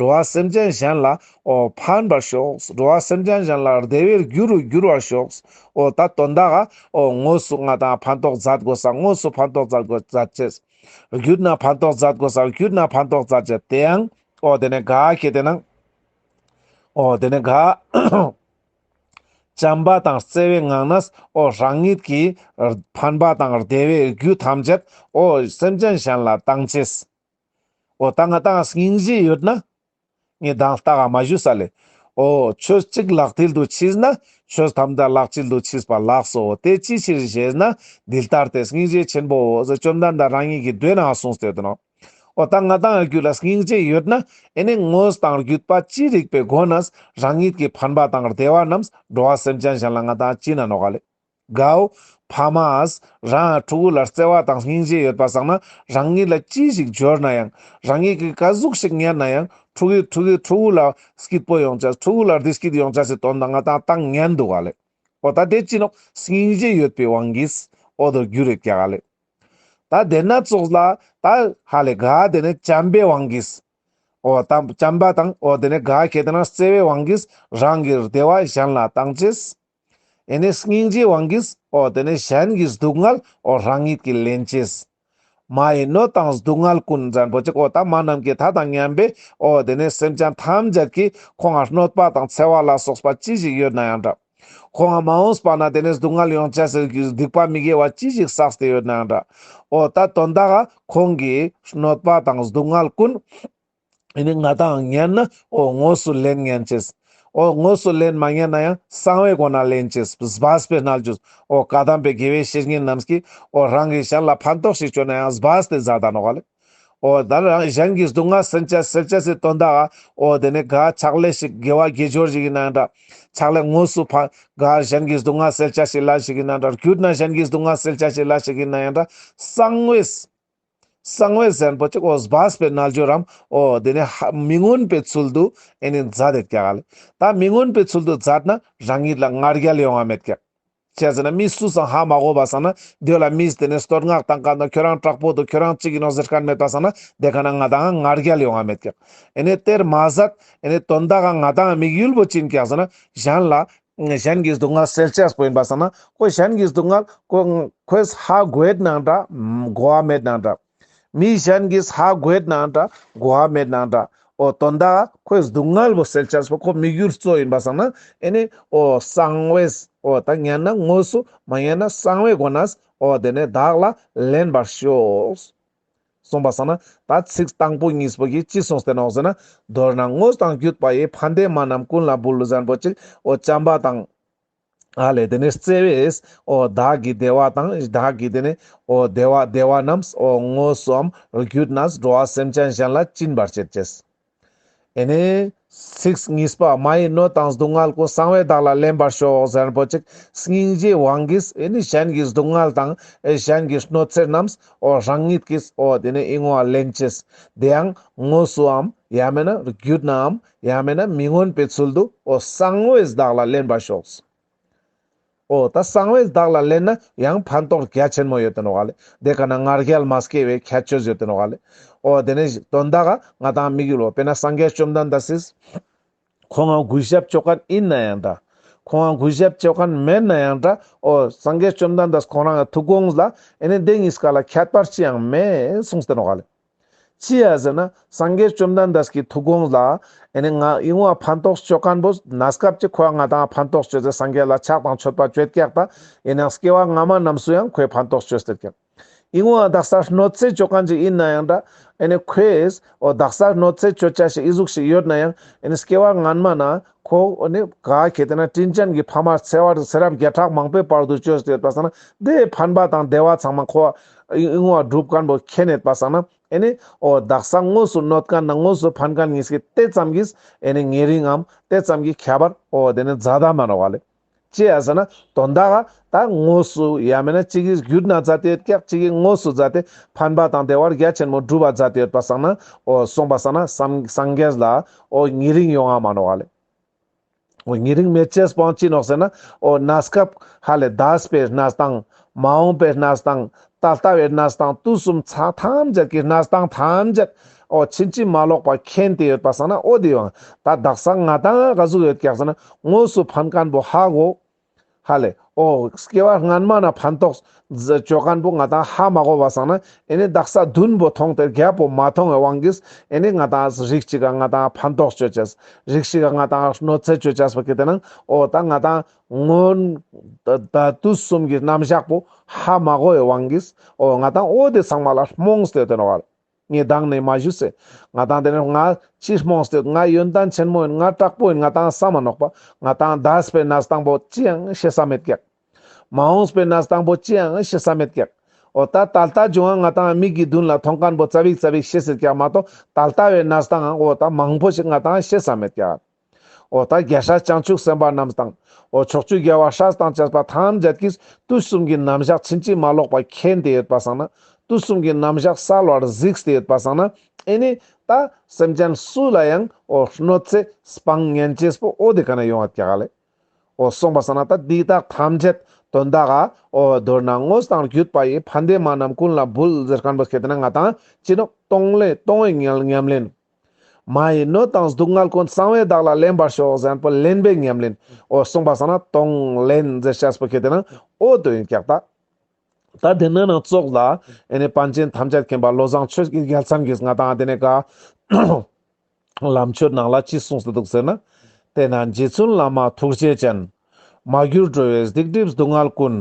འགྲོ་བ་སེམས་ཅན་གཞན་ལ་ཨོ་ཕན་པར་ཤོག། འགྲོ་བ་སེམས་ཅན་གཞན་ལ་བདེ་བའི་རྒྱུ་རུ་འགྱུར་བར་ཤོག། ཨོ་ད་དོན་དག་ཨ། ཨོ་དངོས་སུ་ང་དང་ཕན་ཐོགས་མཛད་དགོས་ས་དངོས་སུ་ཕན་ཐོགས་མཛད་དགོས་མཛད་ཅེས། རྒྱུད་ན་ཕན་ཐོགས་མཛད་དགོས་ས་རྒྱུད་ན་ཕན་ཐོགས་མཛད་ཅེས་དེ་ཡང། ཨོ་དེ་ནས་དགའ་སྐྱེས་དེ་ན། ཨོ་དེ་ནས་དགའ། བྱམས་པ་དང་བརྩེ་བའི་ངང་ན། ཨོ་རང་ཉིད་ཀྱི། ཕན་པ་དང་བདེ་བའི་རྒྱུ་ཐམས་ཅད། ཨོ་སེམས་ཅན་གཞན་ལ་བཏང་ཚེ། ཨོ་ད་ང་དང་སྙིང་རྗེ་ཡོད་ན། ངས་གདངས་རྟགས་ཨ་མ་བཞུ་ས་ལས། ཨོ། ཆོས་གཅིག་ལག་མཐིལ་དུ་མཆིས་ན། ཆོས་ཐམས་ཅད་ལག་དཀྱིལ་དུ་མཆིས་པ་ལགས་སོ། དེ་ཅིའི་ཕྱིར་ཞེས་ན། འདི་ལྟར་ཏེ་སྙིང་རྗེ་ཆེན་པོའོ། བཅོམ་ལྡན་འདས་རང་ཉིད་ཀྱིས་མདོའི་ནང་གསུངས་ཟེར་དོ། ཨོ་ད་ང་དང་རྒྱུད་ལ་སྙིང་རྗེ་ཡོད་ན། ཨེ་ནས་དངོས་དང་བརྒྱུད་པ་ཅི་རིགས་པའི་སྒོ་ནས། རང་ཉིད་ཀྱི་ཕན་པ་དང་བདེ་བ་རྣམས་འགྲོ་བ་སེམས་ཅན་གཞན་ལ་ང་དང་བཅིངས་ན་ནོ། ག་ལས། དགའོ། བྷ་མཱས། རང་ཡང་ཕྲུ་གུ་ལ་བརྩེ་བ་དང་སྙིང་རྗེ་ཡོད་པ་བསགས་ན་རང་ཉིད་ལ་ཅི་ཞིག་འབྱོར་ན་ཡང། རང་ཉིད་ཀྱིས་དཀའ་གཟུགས་ཤིག་གཉེར་ན་ཡང་ཕྲུ་གུས་ཕྲུ་གུས་ཕྲུ་གུ་ལ་སྐྱིད་པོ་ཡོང་བྱ་ཕྲུ་གུ་ལ་བདེ་སྐྱིད་ཡོང་བྱ་ཞེས་དོན་དང་ང་དང་ཏང་ཉན་འདུག་ག་ལེ། ཨོ་ད་དེ་ཅི་ནོ། སྙིང་རྗེ་ཡོད་པའི་དབང་གིས། ཨོ་དོ་རྒྱུ་རེད་ཀྱ་ག་ལེ། ད་བདེན་སྣ་ཚོགས་ལ། ད་ཧ་ལས་ག་དེ་ནི་བྱམས་པའི་དབང་གིས། ཨོ་ད་བྱམས་པ་དང་ཨོ་དེ་ནི་ག་གེ་དེ་ན་བརྩེ་བའི་དབང་གིས་རང་གི་བདེ་བ་གཞན་ལ་བཏང་ཆེས། ཨེ་ནས་སྙིང་རྗེའི་དབང་གིས་ཨོ་དེ་ནས་གཞན་གྱི་སྡུག་བསྔལ་ཨོ་རང་ཉིད་ཀྱིས་ལེན་བྱེད། མ་ཡི་གནོད་དང་སྡུག་བསྔལ་ཀུན་འཛད་མགོ་གཅིག་ཨོ་ད་མ་རྣམས་ཀྱི་མཐའ་དང་མཉམ་པས་ཨོ་དེ་ནས་སེམས་ཅན་ཐམས་ཅད་ཀྱིས་ཁོ་ང་གནོད་པ་དང་འཚེ་བ་ལ་སོགས་པ་ཅི་ཞིག་ཡོད་ན་ཡང་འདྲ། ཁོ་ང་མ་འོངས་པ་ན་དེ་ནས་སྡུག་བསྔལ་ཡོང་བྱེད་ཟེར་གྱི་སྡིག་པ་མི་དགེ་བ་ཅི་ཞིག་བསགས་ཏེ་ཡོད་ན་ཡང་འདྲ། ཨོ་ད་དོན་དག་ཁོང་གིས་གནོད་པ་དང་སྡུག་བསྔལ་ཀུན། འདི་ནི་ང་དང་ངན་ན་འོ་དངོས་སུ་ལེན་ངན་ཅེས། འོ་དངོས་སུ་ལེན་མ་ངན་ན་ཡང་གསང་བའི་སྒོ་ན་ལེན་ཅེས་སྦས་པའི་རྣལ་འབྱོར་འོ་བཀའ་གདམས་པའི་དགེ་བའི་བཤེས་གཉེན་རྣམས་ཀྱིས་འོ་རང་གི་གཞན་ལ་ཕན་ཐོགས་ཤིག་བྱོས་ན་ཡང་སྦས་ཏེ་བཟའ་ཟླ་ནོ་བ་ལས། འོ་དར་རང་གཞན་གྱི་སྡུག་བསྔལ་སེལ་བྱ་སེལ་བྱེད་ཚེ་དོན་དག་ཨ་འོ་དེ་ནི་གཱའི་ཕྱག་ལས་ཤིག་དགེ་བ་དགེ་སྦྱོར་ཞིག་ཡིན་ན་ཡང་འདྲ། ཕྱག་ལས་དངོས་སུ་ཕ་གཱའི་གཞན་གྱི་སྡུག་བསྔལ་སེལ་བྱ་ཞིག་ལ་ཞིག་ཡིན་ན་འདྲ་རྒྱུད་ན་གཞན་གྱི་སྡུག་བསྔལ་སེལ་བྱ་ཞིག་ལ་ཞིག་ཡིན་ན་ཡང་འདྲ་གསང་བའི། གསང་བའི་གཟན་པོ་གཅིག་ཨོ་སྦ་སྦའི་རྣལ་འབྱོར་རམ། ཨོ། དེ་ནས་ཧ། མི་མངོན་པའི་ཚུལ་དུ་ཨེ་ནི་བཛྲ་དེ་བཀྱག། ལ་ད་མི་མངོན་པའི་ཚུལ་དུ་བཛྲ་ན་རང་ཉིད་ལ་ངར་རྒྱལ་ཡོང་བ་མེད་བཀྱག། བྱས་ཟིན་ན་མི་སུ་སང་ཧ་མ་གོ་བ་སང་ན་སྡོད་ལ་མིས་དེ་ནས་བསྟོད་བསྔགས་དང་གང་དང་ཁྱོད་རང་དྲག་པོ་འདུག་ཁྱོད་རང་གཅིག་ཡིན་ནོ་ཟེར་ཁ་མེད་པ་སང་ན་དེ་ག་ན་ང་དང་ང་ངར་རྒྱལ་ཡོང་བ་མེད་བཀྱག། ཨེ་ནི་གཏེར་མ་ཟད། ཨེ་ནི་དོན་དག་ང་དང་དམིགས་ཡུལ་བོ་ཅིན་བཀྱག་ཟིན་ན་གཞན་ལ། གཞན་གྱིས་སྡུག་བསྔལ་སེལ་བྱེད་པོ་ཡིན་པར་བསམ་ན། ཁོས་གཞན་གྱི་སྡུག་བསྔལ། ཁོས་ཧ་གོའི་ནང་འདྲ། གོ་བ་མེད་ནང་འདྲ། མི་གཞན་གྱིས་ཧ་གོའི་ནང་འདྲ། གོ་བ་མེད་ནང་འདྲ། ཨོ། དོན་དག་ཁོས་སྡུག་བསྔལ་བོ་སེལ་བྱེད་པོ་ཁོ་མི་རྒྱུད་གཙོ་ཡིན་པར་བསམ་ན། ཨེ་ནས། ཨོ། གསང་བའི། ཨོ་དང་ཉན་ན་དངོས་སུ། མ་ཉན་ན་གསང་བའི་སྒོ་ནས། ཨོ། དེ་ནས་བདག་ལ་ལེན་པར་ཤོག། གསུངས་པ་བསམ་ན་ད་ཚིག་དང་པོ་གཉིས་པོ་གིས་ཅི་གསུངས་ཟེར་ནོ་ཟེར་ན། མདོར་ན་དངོས་དང་བརྒྱུད་པ་ཡི་ཕ་འདས་མ་རྣམས་ཀུན་ལ་བུ་ལུ་བཟང་པོ་གཅིག་ཨོ་བྱམས་པ་དང། ཨ་ལས་དེ་ནས་བརྩེ་བས་ཨོ་བདག་གི་བདེ་བ་དང་བདག་གི་དེ་ནས་ཨོ་བདེ་བ་བདེ་བ་རྣམས་ཨོ་དངོས་སུའམ་བརྒྱུད་ནས་འགྲོ་བ་སེམས་ཅན་གཞན་ལ་བྱིན་པར་བྱེད་ཅེས། ཨེ་ནས། ཚིག་གཉིས་པདྨ་ཡི་སྣོད་དང་སྡུག་བསྔལ་ཀུན་གསང་བའི་བདག་ལ་ལེན་པར་ཤོག་ཟེར་རིན་པོ་ཆེ་སྙིང་རྗེའི་དབང་གིས་ཨེ་ནས་གཞན་གྱི་སྡུག་བསྔལ་དང་གཞན་གྱི་གནོད་འཚེ་རྣམས་རང་ཉིད་ཀྱིས་དེ་ནས་གཡེང་བ་ལེན་བྱེད། དེ་ཡང་དངོས་སུའམ་ཡང་མེད་ན་རྒྱུད་ནའམ་ཡང་མེད་ན་མི་མངོན་པའི་ཚུལ་དུ་གསང་བའི་བདག་ལ་ལེན་པར་ཤོག་ཟེར། ཨོ་ད་གསང་བའི་བདག་ལ་ལན་ན་ཡང་ཕན་ཐོགས་རྒྱ་ཆེན་མོ་ཡོད་དོན་རོགས་ལེ་དེ་ག་ན་ངར་རྒྱལ་མ་སྐྱེས་བའི་ཁྱད་ཆོས་ཡོད་དོན་རོགས་ལེ་ཨོ་དེ་ནས་དོན་དག་ག་ང་དང་མིག་ཡུལ་བོ་དཔེ་ན་སངས་རྒྱས་བཅོམ་ལྡན་འདས་སིས། ཁོང་ང་གུས་ཞབས་སྤྱོད་མཁན་ཡིན་ན་ཡང་འདྲ། ཁོང་ང་གུས་ཞབས་སྤྱོད་མཁན་མེད་ན་ཡང་འདྲ་ཨོ་སངས་རྒྱས་བཅོམ་ལྡན་འདས་ཁོང་རང་གི་ཐུགས་དགོངས་ལ་ཨེ་ནས་དེ་གཉིས་ཀ་ལ་ཁྱད་པར་ཅི་ཡང་མེད་གསུངས་དོན་རོགས་ལེ། ཅི་ཡང་ཟེར་ན་སངས་རྒྱས་བཅོམ་ལྡན་འདས་ཀྱི་ཐུགས་དགོངས་ལ་ཨེ་ནས་ང་གཡེང་བ་ཕན་ཐོགས་སྤྱོད་སྐམ་པོ་ན་སྐབས་ཀྱི་ཁོ་བ་ང་དང་ཕན་ཐོགས་སྤྱོད་ཚེ་སངས་རྒྱས་ལ་ཕྱག་དང་མཆོད་པ་བསྐྱོད་སྐྱག་ད་ཡིན་ཡང་སྐྱེ་བ་སྔ་མ་རྣམས་སུ་ཡང་ཁོས་ཕན་ཐོགས་སྤྱོད་ཟེར་ཀྱང། གཡེང་བ་བདག་སར་གནོད་འཚེ་སྤྱོད་མཁན་ཅིག་ཡིན་ན་ཡང་འདྲ་ཨེ་ནས་ཁོས་ཨོ་བདག་སར་གནོད་འཚེ་སྤྱོད་བྱ་ཞིག་ཨི་གཟུགས་ཤིག་ཡོད་ན་ཡང་ཨེ་ནས་སྐྱེ་བ་སྔ་མ་ན་ཁོ་བོ་ནི་ག་གེ་དེ་ན་སྤྲིན་ཅན་གྱི་ཕ་མར་འཚེ་བ་དང་ཚེ་རབས་བརྒྱ་ཕྲག་མང་པོའི་བར་དུ་སྤྱོད་ཅེས་པ་བསམས་ན་དེའི་ཕན་པ་དང་བདེ་བ་ཚང་མ་ཁོ་བོའི་བསྔོ་བ་སྒྲུབ་དཀོན་པོ་ཁྱེད་ནས་པ་བསམས་ན་ཨེ་ནི་ཨོ་བདག་ས་དངོས་སུ་གནོད་མཁན་དང་དངོས་སུ་ཕན་མཁན་ཉིད་ཀྱིས་དེ་ཙམ་གྱིས་ཨེ་ནི་ངེས་རིང་ངམ་དེ་ཙམ་གྱིས་ཁྱད་པར་ཨོ་དེ་ནི་རྫ་དག་མ་ར་བ་ལས། ཅེས་ཡ་ཟ་ན་དོ་མདའ་ག་ད་ངོ་སུ་ཡ་མེད་ན་གཅིག་གིས་གུད་ན་རྫ་དེ་ཡོད་སྐད་གཅིག་གིས་ངོ་སུ་རྫ་དེ་ཕན་པ་དང་དེ་བར་རྒྱ་ཆེན་མོ་སྒྲུབ་པ་རྫ་དེ་ཡོད་པ་བསགས་ན་འོ་གསུངས་པ་བསགས་ན་སམ་སངས་རྒྱས་ལ་འོ་ཉི་རིང་ཡོང་ང་མ་ནོ་བ་ལས་འོ་ཉི་རིང་མེ་ལྕེས་སྤང་ཅི་ནོག་ཟེར་ན་འོ་ན་སྐབས་ཧ་ལས་ད་སྤེ་ན་སྟངས་མ་འོངས་པའི་གནས་སྟངས། ད་ལྟ་བའི་གནས་སྟངས་དུས་གསུམ་ཚ་ཐམས་ཅད་ཀྱི་གནས་སྟངས་ཐམས་ཅད། ཨོ་ཕྱིན་ཅི་མ་ལོག་པ་མཁྱེན་ཏེ་ཡོད་པ་བསམ་ན་ཨོ་དེ་ཡང་ད་བདག་སང་ང་ད་ང་ག་གཟུགས་ཡོད་ཀྱང་བསམ་ན་དངོས་སུ་ཕན་ཀན་པོ་ཧ་གོ། ཧ་ལས། ཨོ། སྐྱེ་བ་སྔན་མ་ན་ཕན་ཐོགས། སྤྱོད་ཀན་པོ་ང་ད་ཧ་མ་གོ་བ་བསམ་ན་ཨེ་ནས་བདག་ས་བདུན་པོ་མཐོང་སྟེ་བརྒྱད་པོ་མ་མཐོང་བའི་དབང་གིས་ཨེ་ནས་ང་ད་རིགས་གཅིག་ག་ང་ད་ཕན་ཐོགས་སྤྱོད་བྱས། རིགས་ཤིག་ག་ང་ད་གནོད་འཚེ་སྤྱོད་བྱས་པ་ཀྱི་དེ་ན་ཨོ་ད་ང་ད་སྔོན། ད་དུས་གསུམ་གྱི་རྣམ་གཞག་པོ་ཧ་མ་གོ་བའི་དབང་གིས། འོ་ང་དང་འོ་དེ་ཚང་མ་ལ་རྨོངས་དད་དོན་བར། ངས་སྡང་ནས་མ་ཞུས་ཚེ། ང་དང་དེ་ནས་ང་ཅིས་རྨོངས་དད། ང་ཡོན་ཏན་ཆེན་མོ་ཡིན་ང་དྲག་པོ་ཡིན་ང་དང་ཟ་མ་ནོག་པ། ང་དང་དད་པའི་ན་སྟངས་པོ་ཅི་ཡང་ཤེས་ས་མེད་གེགས། མ་འོངས་པའི་ན་སྟངས་པོ་ཅི་ཡང་ཤེས་ས་མེད་གེགས། འོ་ད་ད་ལྟ་བྱུང་ཡང་ང་དང་མིག་གིས་མདུན་ལ་མཐོང་དཀར་པོ་རྩ་བིག་རྩ་བིག་ཤེས་ཟེར་ཀྱང་མ་གཏོགས་ད་ལྟ་བའི་ན་སྟངས་འང་འོ་ད་མང་པོ་ཞིག་ང་དང་ཤེས་ས་མེད་གེགས། ཨོ་ད་རྒྱལ་སྲས་བྱང་ཆུབ་སེམས་དཔའ་རྣམས་དང། ཨོ་ཕྱོགས་བཅུའི་རྒྱལ་བ་ཤྲཱི་དང་བཅས་པ་ཐམས་ཅད་ཀྱིས་དུས་གསུམ་གྱི་རྣམ་གཞག་ཕྱིན་ཅི་མ་ལོག་པ་མཁྱེན་ཏེ་ཡོད་པར་བསམས་ན། དུས་གསུམ་གྱི་རྣམ་གཞག་གསལ་བར་གཟིགས་ཏེ་ཡོད་པར་བསམས་ན། ཨེ་ནས་ད། སེམས་ཅན་སུ་ལ་ཡང་ཨོ་གནོད་འཚེ་སྤང་གཉེན་སྐྱེས་པོ་ཨོ་དེ་ག་ནས་ཡོང་བ་ཀྱཱ་ལས། ཨོ་གསུངས་པར་བསམས་ན་ད་འདི་དག་ཐམས་ཅད་དོན་དག་ག་ཨོ་བརྡོལ་ན་དངོས་དང་བརྒྱུད་པ་ཡི་ཕ་འདས་མ་རྣམས་ཀུན་ལ་འབུལ་ཟེར་གང་དུ་ཤེས་ཏེ་ན་ང་དང་ཅི་ནུས་སྟོང་ལས་སྟོང་བའི་ཉམས་ལེན། མ་ཡི་སྣོད་དང་སྡུག་བསྔལ་ཀུན་གསང་བའི་བདག་ལ་ལེན་པར་ཤོག་གཟན་པོ་ལེན་པའི་ཉམས་ལེན་འོ་གསུངས་པ་ས་ན་སྟོང་ལེན་འཛེར་ཤ་སྤུ་ཁེ་དེ་ནང་འོ་དོད་ཡིན་ཀྱག་ཏག་ད་དེ་སྣོད་ནང་བཙོག་ལ་ཨེ་ནས་པཎ་ཆེན་ཐམས་ཅད་མཁྱེན་པ་བློ་བཟང་ཆོས་ཀྱི་རྒྱལ་མཚམས་ཀྱིས་ང་དང་དེ་ནས་ག་ལམ་ཆོས་ནང་ལ་ཅི་གསུངས་སུ་འདུག་ཟེར་ན་དེ་ན་རྗེ་བཙུན་བླ་མ་ཐུགས་རྗེ་ཅན། མ་གྱུར་འགྲོ་བའི་སྡིག་སྒྲིབ་སྡུག་བསྔལ་ཀུན།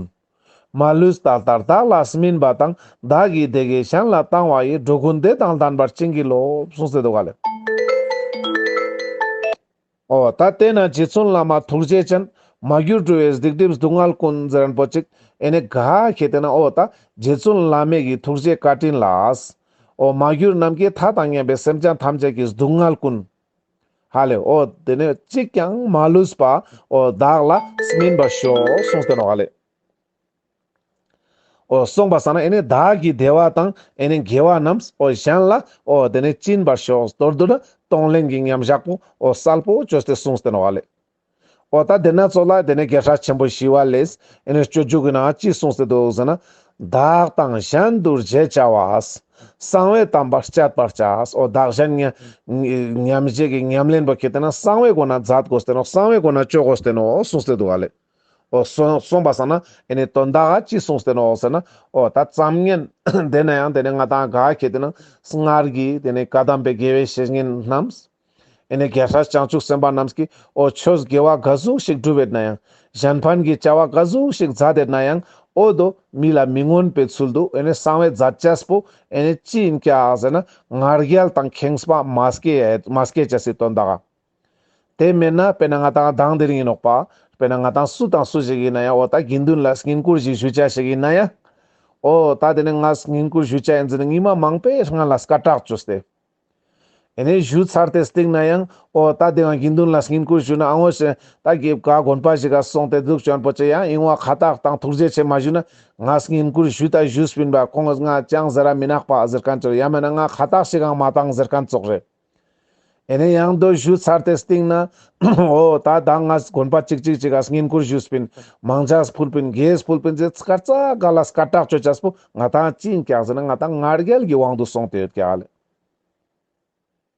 མ་ལུས་ད་ལྟར་བདག་ལ་སྨིན་པ་དང་བདག་གིས་དེ་གའི་གཞན་ལ་བཏང་བ་ཡིས་འགྲོ་ཀུན་བདེ་དང་ལྡན་པར་བྱིན་གྱིས་རློབས་གསུངས་སེ་འདུག་ག་ལས། ཨོ་ད་ལྟས་ན་རྗེ་བཙུན་བླ་མ་ཐུགས་རྗེ་ཅན། མ་གྱུར་སྤྲུལ་བའི་སྡིག་སྒྲིབ་སྡུག་བསྔལ་ཀུན་རྫི་རན་པོ་ཅིག་ཨེ་ནི་ག་ཞེས་བལྟས་ན་ཨོ་ད་རྗེ་བཙུན་བླ་མེད་ཀྱི་ཐུགས་རྗེའི་བཀའ་དྲིན་ལགས། ཨོ་མ་གྱུར་རྣམས་ཀྱིས་ཐ་དང་མཉམ་པའི་སེམས་ཅན་ཐམས་ཅད་ཀྱི་སྡུག་བསྔལ་ཀུན། ཧ་ལས་ཨོ་དེ་ནས་གཅིག་ཀྱང་མ་ལུས་པ་ཨོ་བདག་ལ་སྨིན་པར་ཤོག་གསུངས་ཟེར་ནོ་ཨ་ལས་ཨོ་གསུངས་པ་ས་ན་ཨེ་ནས་བདག་གི་བདེ་བ་དང་ཨེ་ནས་དགེ་བ་རྣམས་ཨོ་གཞན་ལ་ཨོ་དེ་ནས་བྱིན་པར་ཤོག་ཟློར་དུ་ན་གཏོང་ལེན་གྱི་མཉམ་བཞག་པོ་ཨོ་གསལ་པོ་བཅོས་ཏེ་གསུངས་ཟེར་ནོ་ཨ་ལས། འོ་ད་དེ་ན་ཚོ་ལགས་དེ་ནས་སྐད་ཧྲག་ཆེན་པོ་ཞིག་བ་ལེས་ཨེ་ནས་སྤྱོད་རྒྱུག་གི་ན་ཅི་གསུང་སེ་འདུག་ཟེར་ན། བདག་དང་གཞན་འདུར་བྱས་བྱ་བ། གསང་བའི་དམ་པར་སྤྱད་པར་བྱ། འོ་བདག་གཞན་ཉམས་བྱེད་ཀྱི་ཉམས་ལེན་པ་ཁྱེད་དེ་ན་གསང་བའི་སྒོ་ན་འཛག་དགོས་སྟེ་ནོ་གསང་བའི་སྒོ་ན་སྤྱོད་དགོས་སྟེ་ནོ་གསུང་སེ་འདུག་བ་ལེ། འོ་གསུངས་པ་ཟང་ན་ཨེ་ནས་དོན་དག་ཅི་གསུང་སེ་ནོ་ཟེར་ན། འོ་ད་བརྩམ་ངན། དེ་ན་ཡང་དེ་ནས་ང་དང་དགའ་ཁྱེད་དེ་ན་སྔར་གྱི་དེ་ནས་བཀའ་གདམས་པའི་དགེ་བའི་བཤེས་གཉེན་རྣམས། ཨེ་ནས་རྒྱལ་སྲས་བྱང་ཆུབ་སེམས་དཔའ་རྣམས་ཀྱིས་ཨོ་ཆོས་དགེ་བ་འགའ་ཟུང་ཞིག་བསྒྲུབས་བས་ན་ཡང། གཞན་ཕན་གྱི་བྱ་བ་འགའ་ཟུང་ཞིག་མཛད་དེ་ན་ཡང་ཨོ་དོ། མི་ལ་མི་མངོན་པའི་ཚུལ་དུ་ཨེ་ནས་གསང་བའི་མཛད་ཅེས་པོ་ཨེ་ནས་ཅི་ཡིན་ཀྱ་ཟེར་ན་ངར་རྒྱལ་དང་ཁེངས་པ་མ་སྐྱེས་མ་སྐྱེས་ཅེས་སྲིད་དོན་དག། དེ་མེད་ན་དཔེར་ན་ང་དང་གདངས་འདིར་ཡིན་ནོག་པ། དཔེར་ན་ང་དང་སུ་དང་སུ་ཞིག་ཡིན་ན་ཡང་ཨོ་ད་དགེ་འདུན་ལ་བསྙེན་བཀུར་ཞིག་ཞུ་བྱ་ཞིག་ཡིན་ན་ཡང། ཨོ་ད་དེ་ནས་ང་བསྙེན་བཀུར་ཞུ་བྱ་ཡིན་ཟེར་ནས་སྔིན་མ་མང་པས་ང་ལ་སྐ་སྐྲག་བཅུགས་ཏེ། དེ་ནས་བཞུགས་ཚར་ཏེ་བཏེགས་ན་ཡང་ཨོ་ད་དེའང་དགེ་འདུན་ལ་བསྙེན་བཀུར་ཞུས་ན་ཨང་ངོ་ཞེས་ད་གེ་བཀའ་དགོན་པ་ཞིག་ག་སོང་སྟེ་གདུགས་བྱོན་པོ་ཆེ་ཡང་ཡིང་བ་ཁ་བཏགས་དང་ཐུགས་རྗེ་ཆེ་མ་ཞུས་ན་ང་བསྙེན་བཀུར་ཞུས་ད་བཞུགས་སྤིན་པ་ཁོང་ང་ཅང་ཟེ་ར་མི་ནག་པ་ཟེར་མཁན་ཅོར་ཡ་མེད་ན་ང་ཁ་བཏགས་ཞིག་གང་མ་བཏང་ཟེར་མཁན་ཙོག་རེད། དེ་ནས་ཡང་དོ་བཞུགས་ཚར་ཏེ་བཏེགས་ན་ཨོ་ད་ད་ང་དགོན་པ་ཅིག་ཅིག་ཅིག་ག་བསྙེན་བཀུར་ཞུས་སྤིན་མང་ཇགས་སྤུལ་སྤིན་རྒྱས་སྤུལ་སྤིན་ཚེ་ཚི་ཀར་ཙག་ག་ལ་སྐར་གྲགས་ཆོས་ཆ་སྤུ་ང་དང་གཅིག་ཀྱང་ཟེར་ན་ང་དང་ངར་རྒྱལ་གྱི་དབང་དུ་སོང་སྟེ་ཡོད་ཀྱི་ཨ་ལས་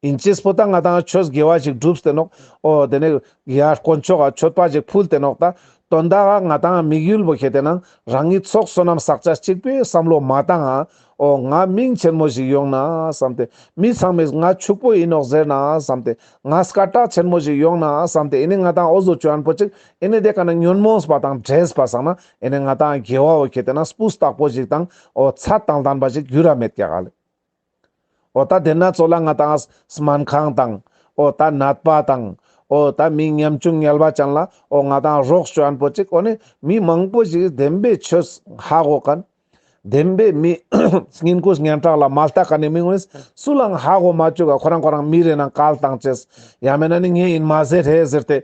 ཨིན་ཅེས་བུ་དང་ང་དང་ཁྱོད་དགེ་བ་ཞིག་བསྒྲུབས་ཏེ་ནོག་ཨོ་དེ་ནས་ཡར་དཀོན་མཆོག་ག་ཁྱོད་པ་ཞིག་ཕུལ་ཏེ་ནོག་ད་དོན་དག་ག་ང་དང་དམིགས་ཡུལ་བོ་ཁྱེད་དེ་ན་རང་གི་ཚོགས་བསོད་ནམས་བསག་བྱ་གཅིག་པའི་བསམ་བློ་མ་བཏང་ཨ་ཨོ་ང་མིང་ཆེན་མོ་ཞིག་ཡོང་ན་བསམ་སྟེ་མི་ཚང་མས་ང་ཕྱུག་པོ་ཡིན་ནོག་ཟེར་ན་བསམ་སྟེ་ང་སྐ་བྲག་ཆེན་མོ་ཞིག་ཡོང་ན་བསམ་སྟེ་ཨེ་ནས་ང་དང་ཨོ་བཟོ་བཅོ་ཨན་པོ་གཅིག་ཨེ་ནས་དེ་ག་ན་ཉོན་མོངས་པ་དང་བྲེལ་བ་བསག་ན་ཨེ་ནས་ང་དང་རྒྱལ་བ་འོ་ཁྱེད་དེ་ན་སྤུ་སྟག་པོ་ཞིག་དང་འོ་ཚ་དང་ལྡན་པ་ཞིག་རྒྱུ་ར་མེད་ཀྱག་ལ། འོ་ད་དེ་ན་ཚོ་ལ་ང་དང་སྨན་ཁང་དང་འོ་ད་ནད་པ་དང་འོ་ད་མི་ཉམ་ཆུང་ཉལ་བ་ཅན་ལ་འོ་ང་དང་རོགས་བྱོན་པོ་ཅིག་འོ་ནི་མི་མང་པོ་ཞིག་བདེན་པའི་ཆོས་ཧ་གོ་གིན། བདེན་པའི་མི་སྙིང་དགུ་སྙན་གྲགས་ལ་མ་ལྟ་ག་ནི་མི་ངོས་སུ་ལའང་ཧ་གོ་མ་བཅུག་ག་ཁོ་རང་ཁོ་རང་མི་རེད་ནང་ག་ལ་དང་བྱེད་ཡ་མེད་ན་ནི་ངས་ཡིན་མ་ཟེར་རེད་ཟེར་ཏེ།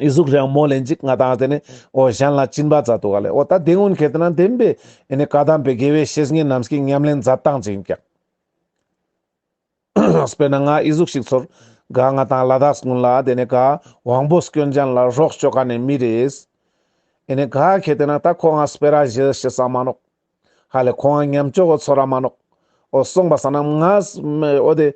ཨི་གཟུགས་རེའང་མོ་ལན་ཅིག་ང་དང་དེ་ནས་ཨོ་གཞན་ལ་བྱིན་པ་མཛད་དོ་ག་ལས་ཨོ་ད་དེ་སྔོན་གལ་ཏེ་ན་དེ་འདི་ཨེ་ནི་བཀའ་གདམས་པའི་དགེ་བའི་བཤེས་གཉེན་རྣམས་ཀྱིས་ཉམས་ལེན་མཛད་སྟངས་ཅི་ཡིན་ཀྱང། དཔེར་ན་ང་ཨི་གཟུགས་ཤིག་ཚོར་ག་ང་དང་ལ་དྭགས་དགོན་ལ་དེ་ནས་ག་དབང་པོ་སྐྱོན་ཅན་ལ་རོགས་བྱོས་ག་ནས་མི་རེས་ཨེ་ནི་ག་གལ་ཏེ་ན་ད་ཁོ་ང་སྤེ་ར་བཞི་ཤི་ས་མ་ནོག། ཧ་ལས་ཁོང་ཨ་མཉམ་སྐྱོ་བོ་ཚོ་ར་མ་ནོག། ཨོ་སོང་པ་ས་ནམ་ང་ཨོ་དེ།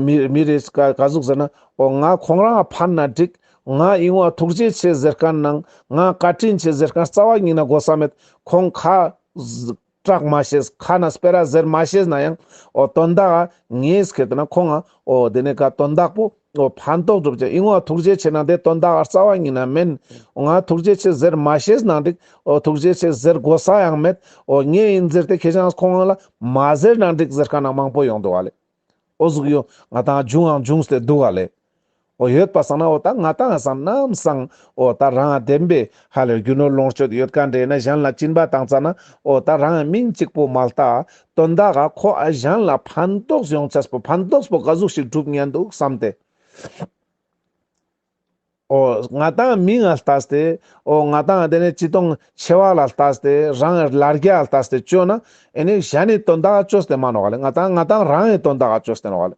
མི་མི་རེས་ག་ག་ཟུག་ཟེར་ན། ཨོ་ང་ཁོང་རང་ཨ་ཕར་ན་འགྲིག། ང་ཨི་ངོ་ཨ་ཐུགས་རྗེ་ཆེ་ཟེར་ཀ་ནང་ང་བཀའ་དྲིན་ཆེ་ཟེར་ཀ་རྩ་བ་ཉིད་ན་དགོ་ས་མེད་ཁོང་ཁ། སྐྲག་མ་ཤེས་ཁ་ན་སྤེ་ར་ཟེར་མ་ཤེས་ན་ཡང་ཨོ་དོན་དག་ཨ་ངེས་ཁེ་དེ་ན་ཁོང་ཨ་ཨོ་དེ་ནས་ག་དོན་དག་པོ། ཨོ་ཕ་མདོག་གྲུབ་ཀྱི་དབྱིངས་འོ་ཐུགས་རྗེ་ཆེ་གནང་དེ་དོན་དག་རྩ་བ་ཉིད་ན་མིན། ང་ཐུགས་རྗེ་ཆེ་ཟེར་མ་ཤེས་གནང་འགྲིག་ཨོ་ཐུགས་རྗེ་ཆེ་ཟེར་དགོས་ས་ཡང་མེད་ཨོ་ངས་ཡིན་ཟེར་ཏེ་ཁྱེད་རང་ཁོང་ལ་མ་ཟེར་གནང་འགྲིག་ཟེར་དཀའ་ན་མང་པོ་ཡོང་འདུག་བ་ལས། ཨོ་གཟུགས་ཡོད་ང་དང་འབྱུང་ཡང་འབྱུང་སྟེ་འདུག་བ་ལས། ཨོ་ཡོད་པ་སང་ན་ཨོ་ད་ང་དང་སང་ནམ་སང་ཨོ་ད་རང་བདེན་པའི་ཧ་ལས་རྒྱུ་ནོར་ལོངས་སྤྱོད་ཡོད་དཀའ་འདྲེ་ནི་གཞན་ལ་བཅིངས་པ་དང་རྩ་ན་ཨོ་ད་རང་མིང་གཅིག་པོ་མ་ལྟ་དོན་དག་ག་ཁོ་ཨ་ཞང་ལ་ཕན་ཐོགས་ཡོང་ཆེད་པོ་ཕན་ཐོགས་པོ་ག་གཟུགས་ཤིག་གྲུབ་ངེས་འདུག་བསམ་ཏེ། ཨོ། ང་དང་མི་ང་ལྟ་སྟེ། ཨོ་ང་དང་དེ་ནས་སྤྱི་སྟོང་ཆེ་བ་ལ་ལྟ་སྟེ་རང་ཨེ་ལར་རྒྱ་ལྟ་སྟེ་བཅོས་ན་ཨེ་ནས་གཞན་ནས་དོན་དག་ག་བཅོས་སྟེ་མ་ནོག་ག་ལེ་ང་དང་ང་དང་རང་ཨེ་དོན་དག་ག་བཅོས་སྟེ་ནོག་ག་ལེ།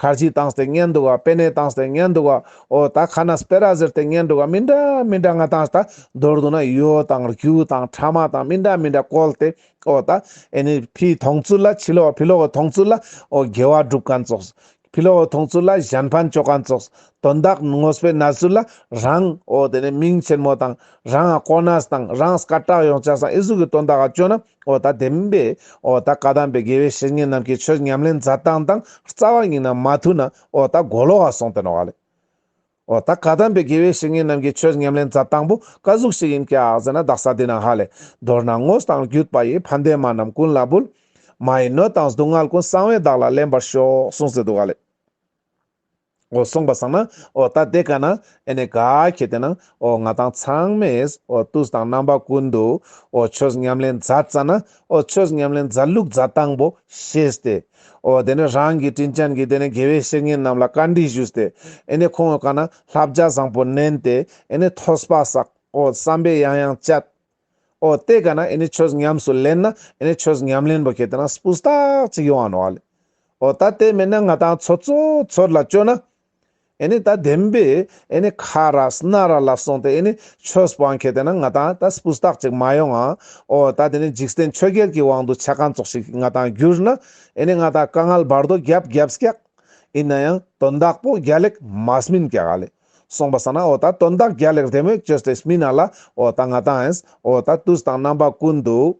ཁར་གྱིས་བཏང་སྟེ་ཉལ་འདུག་བ་པེ་ནས་བཏང་སྟེ་ཉལ་འདུག་བ་ཨོ་ད་ཁ་ན་སྤེ་ར་ཟེར་ཏེ་ཉལ་འདུག་བ་མི་འདྲ་མི་འདྲ་ང་དང་ད་མདོར་བསྡུ་ན་ཡོ་དང་རྒྱུ་དང་ཕྲ་མ་དང་མི་འདྲ་མི་འདྲ་བཀོལ་ཏེ་ཨོ་ད་ཨེ་ནི་ཕི་མཐོང་ཚུལ་ལ་ཕྱི་ལོག་ཕི་ལོག་གི་མཐོང་ཚུལ་ལ་ཨོ་དགེ་བ་སྒྲུབ་ག་རྫོགས་ཕི་ལོག་གི་མཐོང་ཚུལ་ལ་གཞན་ཕན་སྤྱོད་ག་རྫོགས་དོན་དག་ངོ་སྤེལ་ན་ཚུལ་ལ་རང་ཨོ་དེ་ནས་མིང་ཆེན་མོ་དང། རང་ཨ་ཀོ་ནཱས་དང་རང་སྐ་བྲག་ཡོངས་བཅག་སང་ཨི་སུག་གི་དོན་དག་ཨ་ཅོ་ན་ཨོ་ད་དེམ་པས་ཨོ་ད་བཀའ་གདམས་པའི་དགེ་བའི་བཤེས་གཉེན་རྣམས་ཀྱི་ཆོས་ཉམས་ལེན་མཛད་སྟངས་དང་རྩ་བ་ཉིད་ན་མ་ཐུག་ན་ཨོ་ད་མགོ་ལོག་ཨ་སོང་དེ་ནོག་ཨ་ལས། ཨོ་ད་བཀའ་གདམས་པའི་དགེ་བའི་བཤེས་གཉེན་རྣམས་ཀྱི་ཆོས་ཉམས་ལེན་མཛད་སྟངས་པོ་བཀའ་གཟུགས་ཤིག་ཡིན་ཀྱག་ཟེར་ན་བདག་ས་དེ་ན་ཧ་ལས། མདོར་ན་དངོས་དང་བརྒྱུད་པ་ཡིས་ཕ་འདས་མ་རྣམས་ཀུན་ལ་འབུལ། མ་ཡི་སྣོད་དང་སྡུག་བསྔལ་ཀུན་གསང་བས་བདག་ལ་ལེན་པར་ཤོག་གསུངས་ཟེར་འདུག་ཨ་ལས། ཨོ་སོང་པ་བཟང་ན་ཨོ་ད་དེ་ག་ན་ཨེ་ནས་ག་ཁྱེད་དེ་ན་ཨོ་ང་དང་ཚང་མས་ཨོ་ཏུས་དང་རྣམ་པ་ཀུན་ཏུ་ཨོ་ཆོས་ཉམས་ལེན་མཛའ་རྩ་ན་ཨོ་ཆོས་ཉམས་ལེན་མཛའ་ལུགས་མཛའ་དང་པོ་ཤེས་ཏེ་ཨོ་དེ་ནས་རང་གི་དྲིན་ཅན་གྱི་དེ་ནས་དགེ་བའི་བཤེས་གཉེན་རྣམས་ལ་བཀའ་འདྲི་ཞུས་ཏེ་ཨེ་ནས་ཁོང་ངོས་ག་ན་ལྷ་བརྒྱ་བཟང་པོ་བསྣན་ཏེ་ཨེ་ནས་ཐོས་པ་བསགས་ཨོ་བསམ་པས་ཡང་ཡང་བསྐྱལ། ཨོ་དེ་ག་ན་ཨེ་ནི་ཆོས་ཉམས་སུ་ལེན་ན་ཨེ་ནི་ཆོས་ཉམས་ལེན་པོ་ཁྱེད་དེ་ན་སྤུ་སྟག་ཅིག་ཡོང་བ་ནོ་ཨོ་ད་དེ་མེད་ན་ང་དང་ཚོ་ཚོ་ཚོར་ལ་བཅོ་ན་ཨེ་ནི་ད་བདེན་པས་ཨེ་ནི་ཁ་ར་སྣ་ར་ལ་སོང་སྟེ་ཨེ་ནི་ཆོས་སྤང་ཁྱེད་དེ་ན་ང་དང་ད་སྤུ་སྟག་ཅིག་མ་ཡོང་ཨ་ཨོ་ད་དེ་ནི་འཇིགས་བསྟེན་ཆོས་རྒྱལ་གྱི་དབང་དུ་ཆ་གང་ཙོག་ཞིག་ང་དང་བསྒྱུར་ན་ཨེ་ནི་ང་དང་དཀའ་ངལ་བར་དོ་རྒྱབ་རྒྱབ་སྐྱག་ཨིན་ན་ཡང་དོན་དག་པོ་རྒྱ་ལེགས་མ་སྨིན་སྐྱག་ཨ་ལེ་གསུངས་པ་ས་ན་ཨོ་ད་དོན་དག་རྒྱ་ལེགས་རེད་མོད་ཅོས་ཏེས་མི་ན་ལ་ཨོ་ད་ང་དང་ཨེས་ཨོ་ད་ཏུས་དང་རྣམ་པ་ཀུན་འདུག་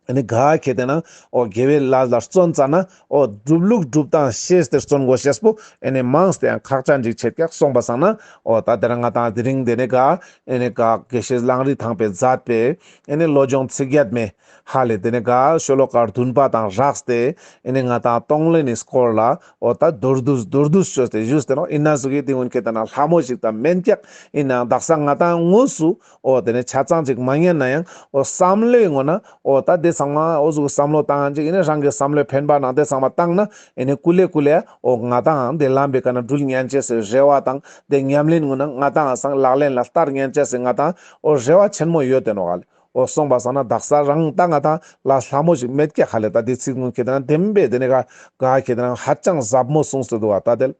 ཨ་ནི་ག་གེ་དེ་ན་ཨོ་དགེ་བའི་ལ་ལ་བརྩོན་ཙ་ན་ཨོ་སྒྲུབ་ལུགས་སྒྲུབ་སྟངས་ཤེས་ཏེ་བརྩོན་དགོས་ཤེས་པོ་ཨེ་ནི་མངས་ཏེ་ཡང་ཁག་ཅག་འཇིགས་བྱེད་ཀྱག་གསུངས་པ་ས་ན་ཨོ་ད་དེ་ན་ང་དང་དེ་རིང་དེ་ནས་ག་ཨེ་ནི་ག་གེ་ཤེས་ལངས་རིས་དང་པའི་མཛད་པས་ཨེ་ནི་བློ་སྦྱོང་ཚིག་བརྒྱད་མེད། ཧ་ལས་དེ་ནས་ག་ཤོ་ལོ་ཀར་དུན་པ་དང་རགས་སྟེ་ཨེ་ནས་ང་དང་སྟོང་ལས་ནས་སྐོར་ལ་འོ་ད་རྡོར་བསྡུ་རྡོར་བསྡུ་ཤོས་དེ་བཞུས་སྟེ་ནོ་ཨིན་ན་ཟུག་གི་དེ་སྔོན་ཁྱེད་ད་ན་ལྷ་མོ་ཞིག་དང་མན་སྐྱག་ཨིན་ན་འདག་ས་ང་དང་དངོས་སུ་འོ་དེ་ནས་ཆ་ཚང་ཅིག་མ་ཉན་ན་ཡང་འོ་བསམ་བློའི་ངོ་ན་འོ་ད་དེ་ཚང་མ་འོ་གཟུགས་བསམ་བློ་བཏང་ཅིག་ཨིན་ན་རང་གི་བསམ་བློའི་འཕེན་པ་ནང་དེ་ཚང་མ་བཏང་ན་ཨེ་ནས་ཀུ་ལེ་ཀུ་ལེ་འོ་ང་དང་དེ་ལམ་པའི་ག་ན་སྦྲུལ་མཉན་བྱས་སའི་རེ་བ་དང་དེ་ཉམས་ལེན་ངོ་ན་ང་དང་སང་ལག་ལེན་ལ་བསྟར་མཉན་བྱས་སའི་ང་དང་འོ་རེ་བ་ཆེན་མོ་ཡོད་དེ་ནོ་ག་ལས་ཨོ་སོང་བ་ཟ་ན་བདག་ཟ་རང་ལྟ་ང་ལྟ་ལ་ལྷ་མོ་ཞིག་མེད་སྐྱེ་ག་ལས་ད་དེ་ཚིག་ངོ་ཁྱེད་རང་དེམ་པས་དེ་ནས་ག་ག་ཁྱེད་རང་ཧ་ཅང་ཟབ་མོ་གསུངས་སོད་འདུག་བ་ད་དལ།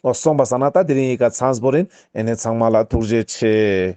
ཨོ་སོང་བ་ཟ་ན་ད་དེ་རིང་ཡི་ག་ཚངས་པོ་རིན་ཨེ་ནས་ཚང་མ་ལ་ཐུགས་རྗེ་ཆེ།